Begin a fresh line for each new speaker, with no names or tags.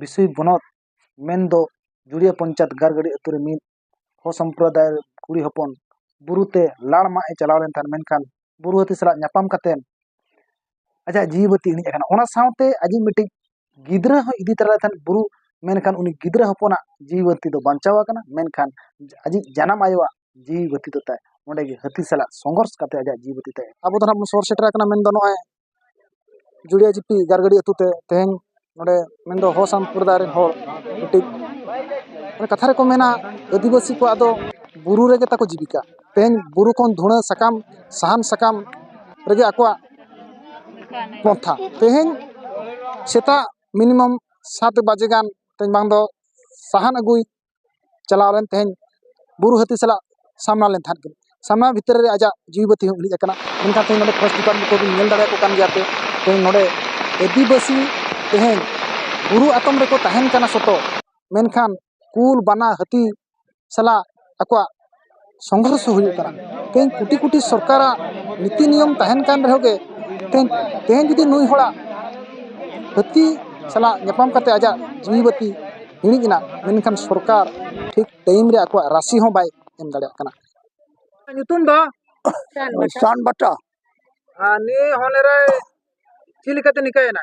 ᱵᱤᱥᱩᱭ ᱵᱚᱱᱚᱛ ᱢᱮᱱᱫᱚ ᱡᱩᱲᱤᱭᱟᱹ ᱯᱚᱧᱪᱟᱭᱮᱛ ᱜᱟᱲ ᱜᱟᱹᱰᱤ ᱟᱹᱛᱩ ᱨᱮ ᱢᱤᱫ ᱦᱚᱲ ᱥᱚᱢᱯᱨᱚᱫᱟᱭ ᱠᱩᱲᱤ ᱦᱚᱯᱚᱱ ᱵᱩᱨᱩ ᱛᱮ ᱞᱟᱲ ᱢᱟᱜ ᱮ ᱪᱟᱞᱟᱣ ᱞᱮᱱ ᱛᱟᱦᱮᱸᱫ ᱢᱮᱱᱠᱷᱟᱱ ᱵᱩᱨᱩ ᱦᱟᱹᱛᱤ ᱥᱟᱞᱟᱜ ᱧᱟᱯᱟᱢ ᱠᱟᱛᱮ ᱟᱡᱟᱜ ᱡᱤᱣᱤ ᱵᱟᱹᱛᱤ ᱤᱬᱤᱡ ᱟᱠᱟᱱᱟ ᱚᱱᱟ ᱥᱟᱶᱛᱮ ᱟᱡᱤᱡ ᱢᱤᱫᱴᱤᱡ ᱜᱤᱫᱽᱨᱟᱹ ᱦᱚᱸᱭ ᱤᱫᱤ ᱛᱟᱨᱟ ᱞᱮᱫᱮ ᱛᱟᱦᱮᱸᱫ ᱵᱩᱨᱩ ᱢᱮᱱᱠᱷᱟᱱ ᱩᱱᱤ ᱜᱤᱫᱽᱨᱟᱹ ᱦᱚᱯᱚᱱᱟᱜ ᱡᱤᱣᱤ ᱵᱟᱹᱛᱤ ᱫᱚ ᱵᱟᱧᱪᱟᱣ ᱟᱠᱟᱱᱟ ᱢᱮᱱᱠᱷᱟᱱ ᱟᱡᱤᱡ ᱡᱟᱱᱟᱢ ᱟᱭᱳᱣᱟᱜ ᱡᱤᱣᱤ ᱵᱟᱹᱛᱤ ᱫᱚ ᱛᱟᱭ ᱚᱸᱰᱮ ᱜᱮ ᱦᱟᱹᱛᱤ ᱥᱟᱞᱟᱜ ᱥᱚᱝᱜᱷᱚᱨᱥ ᱠᱟᱛᱮ ᱟᱡᱟᱜ ᱡᱤᱣᱤ ᱵᱟᱹᱛᱤ ᱛᱟᱭ ᱟᱵᱚ ᱫᱚ ᱱᱟᱦᱟᱜ ᱵᱚᱱ ᱥᱚᱦᱚᱨ ᱥᱮᱴᱮᱨ ᱟᱠᱟᱱᱟ ᱢᱮᱱᱫᱚ ᱱᱚᱜᱼᱚᱭ ᱡᱩᱲᱤᱭᱟᱹ ᱡᱩᱯᱤ ᱜᱟᱨᱜᱟᱹᱰᱤ ᱟᱹᱛᱩ ᱛᱮ ᱛᱮᱦᱮᱧ ᱱᱚᱸᱰᱮ ᱢᱮᱱ ᱫᱚ ᱦᱚ ᱥᱟᱢᱯᱨᱚᱫᱟᱭ ᱨᱮᱱ ᱦᱚᱲ ᱢᱤᱫᱴᱤᱡ ᱢᱟᱱᱮ ᱠᱟᱛᱷᱟ ᱨᱮᱠᱚ ᱢᱮᱱᱟ ᱟᱹᱫᱤᱵᱟᱹᱥᱤ ᱠᱚᱣᱟᱜ ᱫᱚ ᱵᱩᱨᱩ ᱨᱮᱜᱮ ᱛᱟᱠᱚ ᱡᱤᱵᱤᱠᱟ ᱛᱮᱦᱮᱧ ᱵᱩᱨᱩ ᱠᱷᱚᱱ ᱫᱷᱩᱬᱟᱹ ᱥᱟᱠᱟᱢ ᱥᱟᱦᱟᱱ ᱥᱟᱠᱟᱢ ᱨᱮᱜᱮ ᱟᱠᱚᱣᱟᱜ ᱯᱚᱱᱛᱷᱟ ᱛᱮᱦᱮᱧ ᱥᱮᱛᱟᱜ ᱢᱤᱱᱤᱢᱟᱢ ᱥᱟᱛ ᱵᱟᱡᱮ ᱜᱟᱱ ᱛᱮᱦᱮᱧ ᱵᱟᱝ ᱫᱚ ᱥᱟᱦᱟᱱ ᱟᱹᱜᱩᱭ ᱪᱟᱞᱟᱣ ᱞᱮᱱ ᱛᱟᱦᱮᱸᱫ ᱵᱩᱨᱩ ᱦᱟᱹᱛᱤ ᱥᱟᱞᱟᱜ ᱥᱟᱢᱱᱟ ᱞᱮᱱ ᱛᱟᱦᱮᱸᱫ ᱠᱤᱱ ᱥᱟᱢᱱᱟ ᱵᱷᱤᱛᱨᱤ ᱨᱮ ᱟᱡᱟᱜ ᱡᱤᱣᱤ ᱵᱟᱹᱛᱤ ᱦᱚᱸ ᱤᱬᱤᱡ ᱟᱠᱟᱱᱟ ᱢᱮᱱᱠᱷᱟᱱ ᱛᱮᱦᱮᱧ ᱱᱚᱰᱮ ᱯᱷᱚᱨᱮᱥᱴ ᱰᱤᱯᱟᱨᱴᱢᱮᱱᱴ ᱠᱚᱵᱤᱱ ᱧᱮᱞ ᱫᱟᱲᱮᱭᱟᱠᱚ ᱠᱟᱱ ᱜᱮᱭᱟ ᱯᱮ ᱛᱮᱦᱮᱧ ᱱᱚᱰᱮ ᱟᱹᱫᱤᱵᱟᱹᱥᱤ ᱛᱮᱦᱮᱧ ᱵᱩᱨᱩ ᱟᱛᱚᱢ ᱨᱮᱠᱚ ᱛᱟᱦᱮᱱ ᱠᱟᱱᱟ ᱥᱚᱛᱚ ᱢᱮᱱᱠᱷᱟᱱ ᱠᱩᱞ ᱵᱟᱱᱟ ᱦᱟᱹᱛᱤ ᱥᱟᱞᱟᱜ ᱟᱠᱚᱣᱟᱜ ᱥᱚᱝᱜᱷᱚᱨᱥᱚ ᱦᱩᱭᱩᱜ ᱠᱟᱱᱟ ᱛᱮᱦᱮᱧ ᱠᱳᱴᱤ ᱠᱳᱴᱤ ᱥᱚᱨᱠᱟᱨᱟᱜ ᱱᱤᱛᱤ ᱱᱤᱭᱚᱢ ᱛᱟᱦᱮᱱ ᱠᱟᱱ ᱨᱮᱦᱚᱸ ᱜᱮ ᱛᱮᱦᱮᱧ ᱛᱮᱦᱮᱧ ᱡᱩᱫᱤ ᱱᱩᱭ ᱦᱚᱲᱟᱜ ᱦᱟᱹᱛᱤ ᱥᱟᱞᱟᱜ ᱧᱟᱯᱟᱢ ᱠᱟᱛᱮ ᱟᱡᱟᱜ ᱡᱤᱣᱤ ᱵᱟᱹᱛᱤ ᱤᱬᱤᱡ ᱮᱱᱟ ᱢᱮᱱᱠᱷᱟᱱ ᱥᱚᱨᱠᱟᱨ ᱴᱷᱤᱠ ᱴᱟᱭᱤᱢ ᱨᱮ ᱟᱠᱚᱣᱟᱜ ᱨᱟᱥᱤ ᱦᱚᱸ ᱵᱟᱭ ᱮᱢ ᱫᱟᱲᱮᱭᱟᱜ ᱠᱟᱱᱟ ᱧᱩᱛᱩᱢ ᱫᱚ ᱥᱟᱱ ᱵᱟᱴᱟ ᱟᱨ ᱱᱤᱭᱟᱹ ᱦᱚᱱᱮᱨᱮ ᱪᱮᱫ ᱞᱮᱠᱟᱛᱮ ᱱᱤᱝᱠᱟᱹᱭᱮᱱᱟ